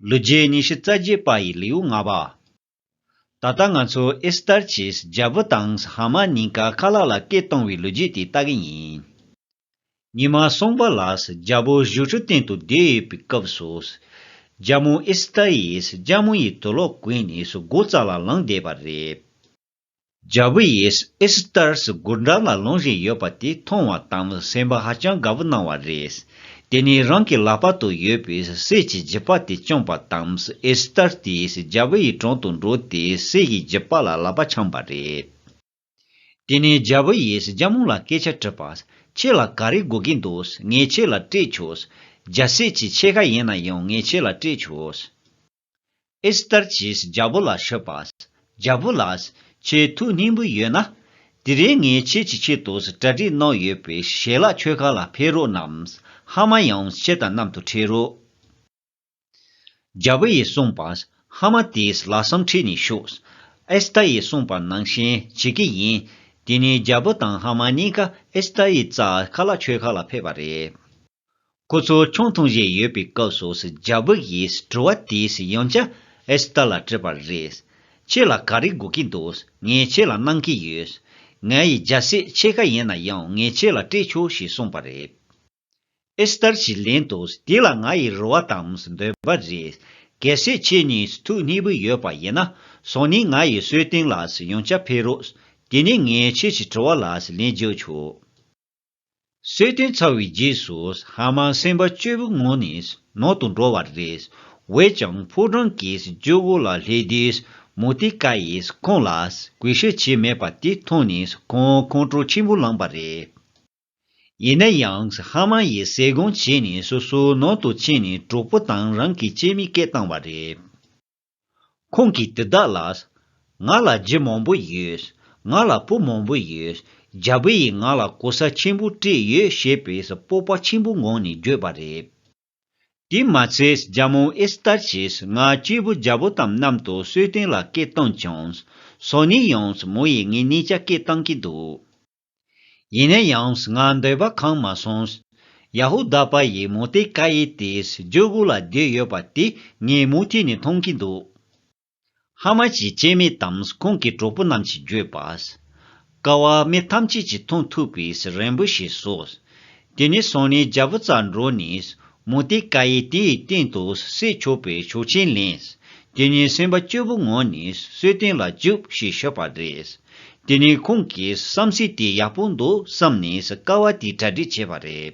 ལོ་རྒྱུས་ཉི་ཤུ་རྩ་བརྒྱད་པ་ཡི་ལེའུ་ལྔ་པ། ད་ལྟ་ང་ཚོ་ཨེ་སི་ཏར་གྱིས་རྒྱལ་པོ་དང་ཧ་མ་གཉིས་ཀ་ཁ་ལག་ལ་སྐད་གཏོང་བའི་ལོ་རྒྱུས་དེ་ལྟ་གི་ཡིན། ཉི་མ་སོང་པ་ལ་རྒྱལ་པོ་བཞུགས་ཁྲི་སྟེང་དུ་བསྡད་ཡོད་པའི་སྐབས་སུ། རྒྱལ་མོ་ཨེ་སི་ཏར་ཡིས་སྐྱ་མོ་ཡི་དོ་ལོག་གོན་ནས་སྒོ་རྩར་ལ་ལངས་བསྡད་པ་རེད། རྒྱལ་པོ་ཡིས་ཨེས་ཐར་སི་སྒུར་འདྲ་ལ་ལོང་བཞིན་ཡོད་པ་དེ་མཐོང་བ་དང་ནི་སེམས་པ་ཧ་ཅང་དགའ་པོ་གནང་བ་རེད། དེ་ནས་རང་གི་ལག་པ་དུ་ཡོད་པའི་ཟས་ཀྱི་རྒྱུད་པ་དེ་བཅངས་པ་དང་ཨེས་ཐར་དེས་རྒྱལ་པོ་ཡི་དྲུང་དུ་འགྲོ་དེ་ཟས་ཀྱི་རྒྱུད་པ་ལ་ལག་པ་འཆང་བ་རེད། དེ་ནས་རྒྱལ་པོ་ཡིས་རྒྱལ་མོ་ལ་སྐད་ཆ་དྲིས་པ། ཁྱེད་ལ་ག་རེ་དགོས་ཀྱི་འདུག་ངས་ཁྱེད་ལ་སྤྲད་ཆོག། རྒྱལ་སྲས་ཀྱི་ཕྱེད་ཀ་ཡིན་ན་ཡང་ངས་ཁྱེད་ལ་སྤྲད་ཆོག། ཨེ་སྟར་གྱིས་རྒྱལ་པོ་ལ་ཞུས་པ། རྒྱལ་པོ་ལགས། ཁྱེད་ཐུགས་སྙིང་པོ་ཡོད་ན། དེ་རིང་ངས་ཁྱེད་ཀྱི་ཆེད་དུ་གྲ་སྒྲིག་གནང་ཡོད་པའི་ཞལ་ལག་མཆོད་ཁང་ལ་ཕེབས་རོགས་གནང། ཧ་མ་ཡང་ཁྱེད་དང་མཉམ་དུ་ཁྲིད་རོགས། རྒྱལ་པོ་ཡིས་གསུངས་པ། ཧ་མ་དེས་ལག་བསམ་ཁྲིད་ནས་ཞུགས། ཨེ་སྟར་ཡིས་གསུངས་པ་ནང་བཞིན་བྱེད་ཀྱི་ཡིན། དེ་ནས་རྒྱལ་པོ་དང་ཧ་མ་གཉིས་ཀ་ཨེ་སྟར་ཡི་རྩ་ཁ་ལག་མཆོད་ཁང་ལ་ཕེབས་པ་རེད། ཁོ་ཚོ་ཆུང་འཐུང་བཞིན་ཡོད་པའི་སྐབས་སུ་རྒྱ་བོད་ཡིས་དྲི་བ་དེས་ཡང་ཅི་ཨེས་ཏར་ལ་དྲིས་པ་རེད། ཁྱེད་ལ་ག་རེ་དགོས་ཀྱི་འདུག་ངས་ཁྱེད་ལ་གནང་གི་ཡོད། ང་ཡི་རྒྱལ་སྲས་ཁྱེད་ག་ཡིན་ན་ཡང་ངས་ཁྱེད་ལ་སྤྲད་ཆོག་ཞེས་གསུངས་པ་རེད། ཨེས་ཏར་གྱིས་ལན་དུ་དེ་ལ་ང་ཡི་རེ་བ་དང་འདོད་པ་རེད། གལ་སྲིད་ཁྱེད་གཉིས་ཐུགས་མཉེས་པོ་ཡོད་པ་ཡིན་ན་སང་ཉིན་ང་ཡི་སྲོད་སྟེང་ལ་ཡང་ཅི་ཕེབས་རོགས། དེ་ནས་ངས་ཁྱེད་ཀྱི་དྲི་བ་ལ་ལན་བརྒྱབ་ཆོག། གསོལ་སྟོན་ཚར་བའི་རྗེས་སུ་ཧ་མ་སེམས་པ་སྐྱོ་བོའི་ངང་ནས་ནང་དུ་འགྲོ་བར་རེས་འོས་ཀྱང་ཕོ་བྲང་གི་ཇོ་བོ་ལ་ལྷས་དུས་མུ་ཏིག་ཀ་ཡིས་ཁོང་ལ་གུས་ཞུ་བྱས་མེད་པ་དེ་མཐོང་ནས་ཁོང་ཁོང་ཁྲོ་ཆེན་པོ་ལངས་པ་རེད། ཡིན་ན་ཡང་ཧ་མ་ཡིས་གསལ་སྒོམ་བྱས་ནས་སོ་སོའི་ནང་དུ་ཕྱིན་ནས་གྲོགས་པོ་དང་རང་གི་སྐྱེས་མའི་སྐད་བཏང་བ་རེད། ཁོང་གིས་དེ་དག་ལ། ང་ལ་རྗེ་མང་པོ་ཡོད། ང་ལ་བུ་མང་པོ་ཡོད། རྒྱ་བོད་ཡིས་ང་ལ་གོ་ས་ཆེན་པོ་སྤྲད་ཡོད་ཞེས་པའི་སྤོབས་པ་ཆེན་པོ་ངང་ནས་བརྗོད་པ་རེད། དེས་མ་ཚད་རྒྱ་མོ་ཨེ་སི་ཐར་གྱིས་ང་སྐྱེས་བུ་རྒྱ་བོ་དམ་གནམ་དུ་གསོལ་སྟོན་ལ་སྐད་བཏང་ཀྱང། ཟོག་ནས་ཡང་མོ་ཡིས་ངའི་གནས་ཀྱ་སྐད་བཏང་གི་འདུག། ཡིན་ན་ཡང་ང་འདོད་པ་གང་མ་སོང། ཡ་ཧུ་དཱ་པ་ཡིས་མོ་ཏེ་ཀཱ་ཡི་དེས་སྦྱོར་དགུ་ལ་བསྡོད་ཡོད་པ་དེ་ངས་མུ་མཐུད་ནས་མཐོང་གི་འདུག། ཧ་མ་ཅིའི་སྐྱེ་མེད་དམ་ཁོང་གི་གྲོགས་པོ་རྣམས་ཀྱིས་བརྗོད་པ། ཀ་བ་མི་ཐམས་ཅད་ཀྱིས་མཐོང་ཐུབ་པའི་རན་པོ་ཞིག་བཟོ། དེ་ནས་བཟུང་ནས་རྒྱལ་པོ་ཙཱ་འབྲོག་ནས། མུ་སྟེགས་ཀ་ཡེ་དེ་ཡི་སྟེང་དུ་སྲས་ཆོག་པའི་ཆོག་ཆེན་ལེན། དེ་ནས་སེམས་པ་སྐྱོ་བོ་ངང་ནས་གསོལ་བསྟན་ལ་འཇུག་ཞེས་ཤོད་པ་རེད། དེ་ནས་ཁོང་གིས་བསམ་སྲིད་དེ་ཡག་པོ་འདུག་བསམ་ནས་ཀ་བ་དེ་གྲ་སྒྲིག་བྱས་པ་རེད།